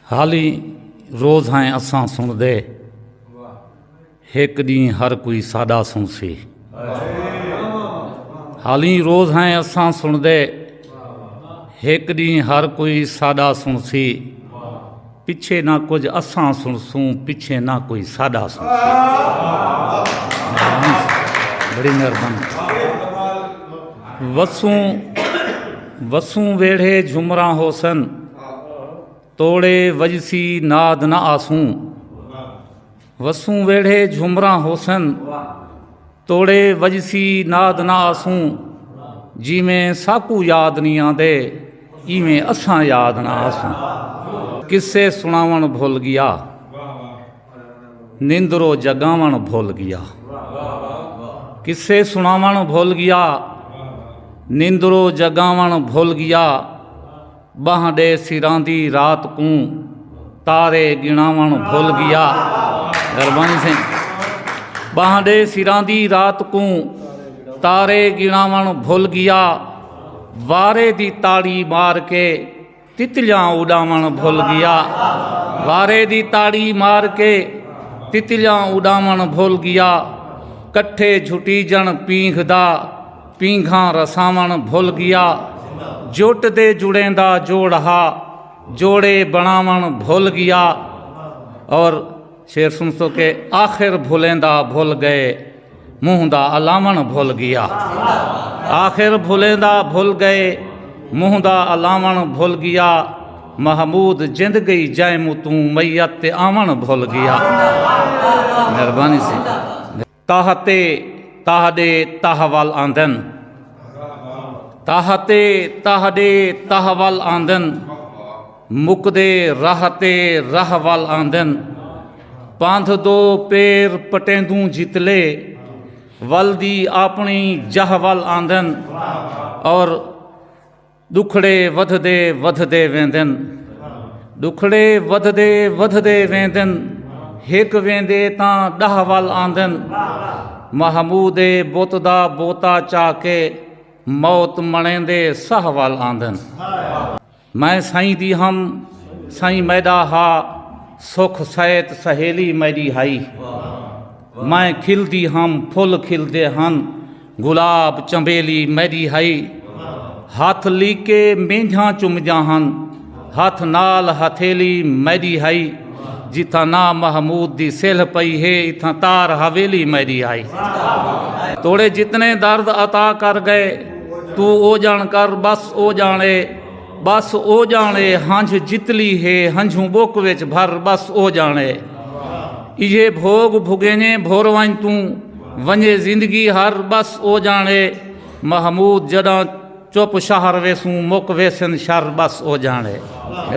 حالی روز ہیں اساں سنڑدے ہک ڈینہہ ہر کوئی ساڈا سنسی حالی روز ہیں اساں سنڑدے ہک ڈینہہ ہر کوئی ساڈا سنسی پچھے نہ کچھ اساں سنسوں پچھے نہ کوئی ساڈا سنسی بڑی مہربانی وسوں وسوں ویڑھے جھمراں ہوسن توڑے وجسی ناد نہ آسوں وسوں ویڑھے جھمراں ہوسن توڑے وجسی ناد نہ آسوں جیویں ساکو یاد نہیں آندے ایویں اساں یاد نہ آسوں کسے سناون بھول گیا نیندرو جگاون بھول گیا کسے سناون بھول گیا نیندرو جگاون بھول گیا ٻانہہ ݙے سراندی رات کوں تارے ڳݨاوݨ بھل ڳیا مہربانی سائیں ٻانہہ ݙے سراندی رات کوں تارے ڳݨاوݨ بھل ڳیا وارے دی تاڑی مار کے تتلیاں اݙاوݨ بھل ڳیا وارے دی تاڑی مار کے تتلیاں اݙاوݨ بھل ڳیا کٹھے جھٹیجݨ پینگھ دا پینگھاں رساوݨ بھل ڳیا جٹ دے جڑیں دا جوڑ ہا جوڑے بݨاوݨ بھل ڳیا اور شعر سن سو کہ آخر بھلیں دا بھل ڳئے منہ دا الاوݨ بھل ڳیا آخر بھلیں دا بھل ڳئے منہ دا الاوݨ بھل ڳیا محمود جند گئی جائے متوں میت تے آوݨ بھل ڳیا مہربانی سی تاہ تے تاہ ڈے تاہ ول آندن تاہ تے تاہ ڈے تاہ ول آندن مک دے راہ تے راہ ول آندن پاندھ دو پیر پٹیندوں جتلے ول دی اپنی جاہ ول آندن اور ݙکھڑے ودھدے ودھدے ویندن ݙکھڑے ودھدے ودھدے ویندن ہک ویندے تاں ݙاہ ول آندن محمود بت دا بوتا چا کے موت مݨیندے ساہ ول آندن میں سائیں دی ہم سائیں میݙا ہا سکھ سیت سہیلی میݙی ہائی میں کھلدی ہم پھل کھلدے ہن گلاب چنبیلی میڈی ہئی ہتھ لیکے مینجھاں چمجاں ہن ہتھ نال ہتھیلی میڈی ہئی جتھاں نا محمود دی سلھ پئی ہے اتھاں تار حویلی میڈی ہئی توڑے جتنے درد عطا کر گئے تو او جان کر بس او جان اے ٻس او ڄاݨے ہنجھ جتلی ہے ہنجھوں ٻک وچ بھر ٻس او ڄاݨے ایہے بھوڳ بھوڳینجھیں بھر ونڄ توں ونڄے زندگی ہر ٻس او ڄاݨے محمود جݙاں چپ شہر ویسوں مک ویسن شر ٻس او ڄاݨے۔